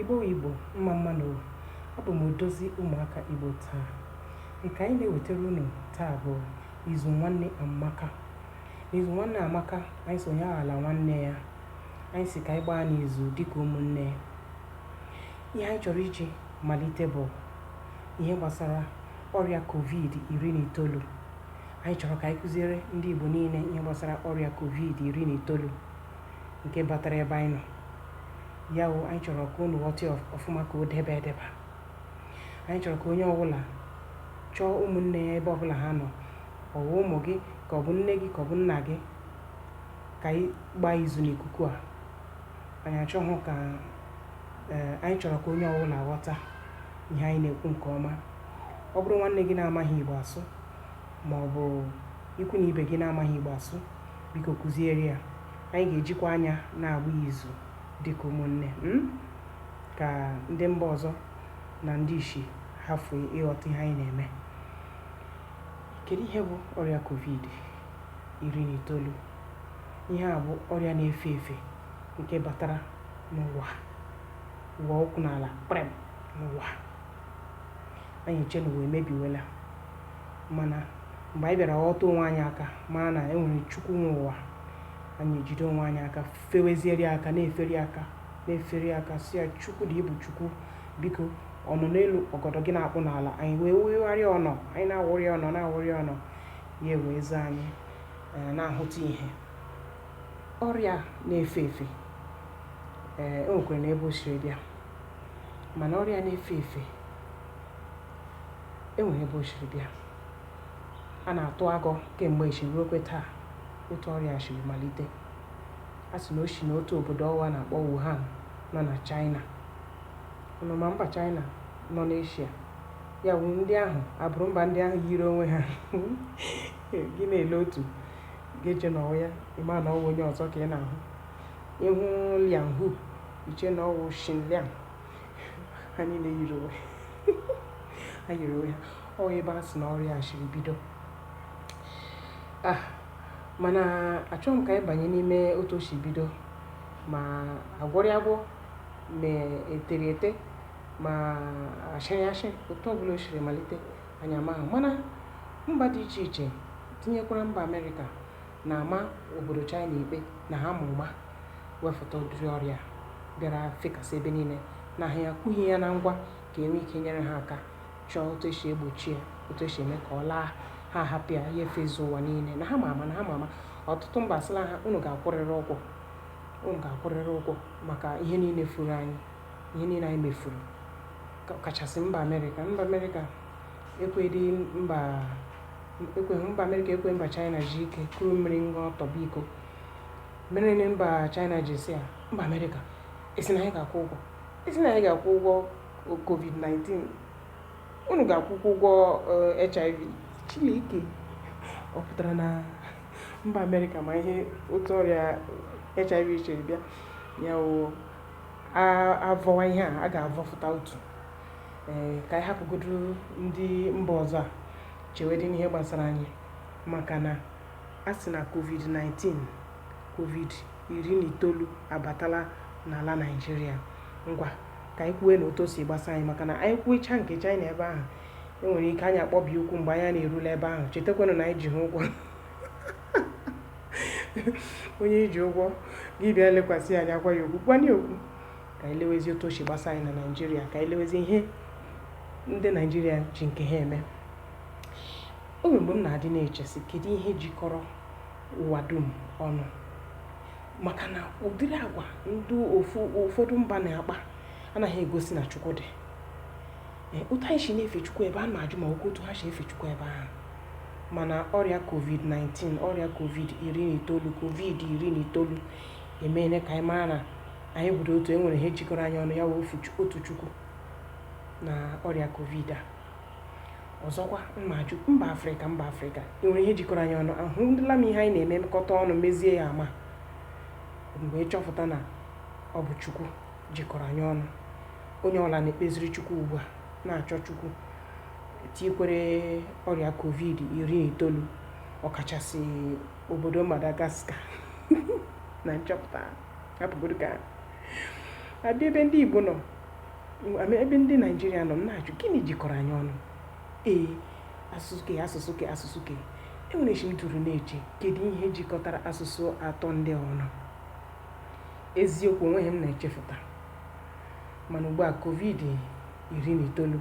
Igbo wụ Igbo, mma mma nụ o. Abụ m odozi ụmụaka Igbo taa. Nke anyị na-ewetara unu taa bụ izu nwanne Amaka. N'izu nwanne Amaka, anyị sị onye aghala nwanne ya. Anyị sị ka anyị gbaanụ izu dịka ụmụnne. Ihe anyị chọrọ iji malite bụ ihe gbasara ọrịa covid iri na itoolu. Anyị chọrọ ka anyị kụziere ndị Igbo niile ihe gbasara ọrịa covid iri na itoolu. nke batara ebe anyị nọ ya wụ anyị chọrọ ka unu ghọta ya ọfụma ka o debe edeba anyị chọrọ ka onye ọbụla chọọ ụmụnne ya ebe ọbụla ha nọ ọ bụ ụmụ gị ka ọ bụ nne gị ka ọ bụ nna gị ka anyị gbaa izu n'ikuku a anyị achọghị ka ee anyị chọrọ ka onye ọbụla ghọta ihe anyị na-ekwu nke ọma ọ bụrụ nwanne gị na-amaghị igbo asụ ma ọ bụ ikwu na ibe gị na-amaghị igbo asụ Biko kụziere ya. Anyị ga-ejikwa anya na-agba izu dịka ụmụnne mm, ka ndị mba ọzọ na ndị ishi hafụ ịghọta ihe anyị na-eme. Kedu ihe bụ ọrịa covid iri na itoolu? Ihe a bụ ọrịa na-efe efe nke batara n'ụwa ụwa ụkwụ n'ala kprem n'ụwa. Anyị eche na ụwa emebiwela. mana mgbe anyị bịara ghọta onwe anyị aka mara na e nwere Chukwu nwe ụwa anyị ejide onwe anyị aka feweziere ya aka na-efere ya aka na-efere ya aka sị ya Chukwu dị ibu Chukwu biko ọ nọ n'elu ọgọdọ gị na-akpụ n'ala anyị wee wegharịa ọnụ anyị na-awụrị ọnụ na-awụrị ọnụ ya wee zaa anyị eh, na-ahụta ihe ọrịa na-efe efe ee eh, o nwekwara na ebe o siri bịa mana ọrịa na-efe efe e nwere ebe o siri bịa. A na-atụ agọ kemgbe echi ruokwe taa otu ọrịa a siri malite. A sị na o si n'otu obodo ọwa a na-akpọ Wuhan nọ na Chaịna. Unu ma mba Chaịna nọ n'Eshia? Ya wụ ndị ahụ abụrụ mba ndị ahụ yiri onwe ha gị na-ele otu gị eche na ọ wụ ya ị maghị na ọ wụ onye ọzọ ka ị na-ahụ ị hụ Liang Hu i chee na ọ wụ Shin Liang ha niile yiri onwe ha yiri onwe ha ọ ebe a sị na ọrịa a siri bido ah mana achọghị m ka anyị banye n'ime otu o si bido ma a gwọrọ ya agwọ ma e tere ete ma a shịrị ashị otu ọbụla o siri malite anyị amaghị mana mba dị iche iche tinyekwara mba amerịka na-ama obodo China ikpe na ha ma ụma wefụta ụdịrị ọrịa a bịara fekasị ebe niile na ha akwughị ya na ngwa ka e nwee ike nyere ha aka chọọ otu e si egbochi ya otu e si eme ka ọ laa ha ahapụ ya ya efezu ụwa niile na ha ma ama na ha ma ama ọtụtụ mba asịla ha unu ga-akwụrịrị ụgwọ unu ga-akwụrịrị ụgwọ maka ihe niile furu anyị ihe niile anyị mefuru kachasị mba amerịka mba amerịka ekwedị mba ekwe mba amerịka ekwe mba china zuo ike kuru mmiri ṅụọ tọgbọ iko mere na mba china ji sị ya mba amerịka ị sị na anyị ga-akwụ ụgwọ ị sị na anyị ga-akwụ ụgwọ covid-19 unu ga-akwụkwa ụgwọ eh, hiv chileke ọ pụtara na mba amerịka ma ihe otu ọrịa hiv siri bịa ya wụ a vọwa ihe a a ga-avọfụta otu ee ka anyị hapụgodu ndị mba ọzọ a chewedị n'ihe gbasara anyị maka na a sị na covid-19 covid iri na itoolu abatala n'ala naijiria ngwa ka anyị kwuwenụ otu o si gbasa anyị maka na anyị kwuwecha nke china ebe ahụ e nwere ike anyị akpọbi ụkwụ mgbe anyị na-erule ebe ahụ chetakwanụ na anyị ji ha ụgwọ onye i ji ụgwọ gị bịa lekwasị anya agwa ya okwu kwana okwu ka anyị lewezie otu o si gbasa anyị na naijiria ka anyị lewezie ihe ndị naijiria ji nke ha eme o nwere mgbe m na-adị na-eche sị kedu ihe jikọrọ ụwa dum ọnụ maka na ụdịrị agwa ndị ụfọdụ mba na-akpa anaghị egosi na chukwu dị otu anyị si na-efe chukwu ebe a na-ajụ ma ọ wụ otu ha si efe chukwu ebe ahụ mana ọrịa covid-19 ọrịa covid iri na itoolu covid iri na itoolu emeela ka anyị mara na anyị bụdị otu e nwere ihe jikọrọ anyị ọnụ ya wụ ofu Chu- otu chukwu na ọrịa covid a ọzọkwa m na-ajụ mba afrịka mba afrịka e nwere ihe jikọrọ anyị ọnụ ahụla m ihe anyị na-emekọta ọnụ mezie ya ama mgbe chọpụta na ọ bụ chukwu jikọrọ anyị ọnụ onye ọla na-ekpeziri chukwu ugbu a na-achọ chukwu tikwere ọrịa covid iri na itoolu ọkachasị obodo Madagascar na nchọpụta hapụgodu ka a bịa ebe ndị Igbo nọ ebe ndị Naijiria nọ na-ajụ gịnị jikọrọ anyị ọnụ ee asụsụ ke asụsụ ke asụsụ ke e nwere chi m dụrụ na-eche kedu ihe jikọtara asụsụ atọ ndị a ọnụ eziokwu o nweghị ihe m na-echefụta mana ugbu a covid iri na itoolu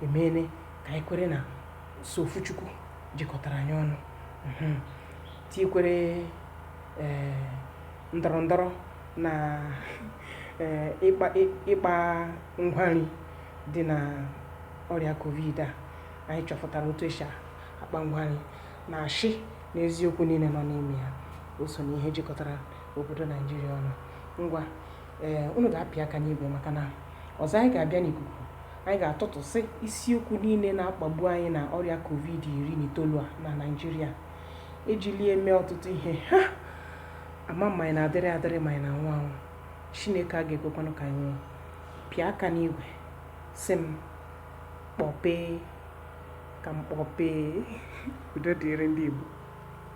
emeela ka anyị kwere na sọ ofu Chukwu jikọtara anyị ọnụ mhm. tikwere eh, ndọrọ ndọrọ na eh, ịkpa ngwa nri dị na ọrịa covid a anyị chọpụtara otu esi akpa ngwa nri na ashị na eziokwu niile nọ n'ime ya o so na ihe jikọtara obodo naijiria ọnụ ngwa ee eh, unu ga-apị aka n'igwe maka na Ọzọ, anyị ga-abịa n'ikuku. Anyị ga-atụtụsị isiokwu niile na-akpagbu anyị na ọrịa Covid iri na itoolu a na Naịjirịa. E jili ya mee ọtụtụ ihe. Ha! Ama m ma anyị na-adịrị adịrị ma anyị na-anwụ anwụ. Chineke a ga-ekwekwanụ ka anyị nwụọ. Pịa aka n'igwe, sị m, kpọpee ka m kpọpee. Udo dịrị ndị Igbo.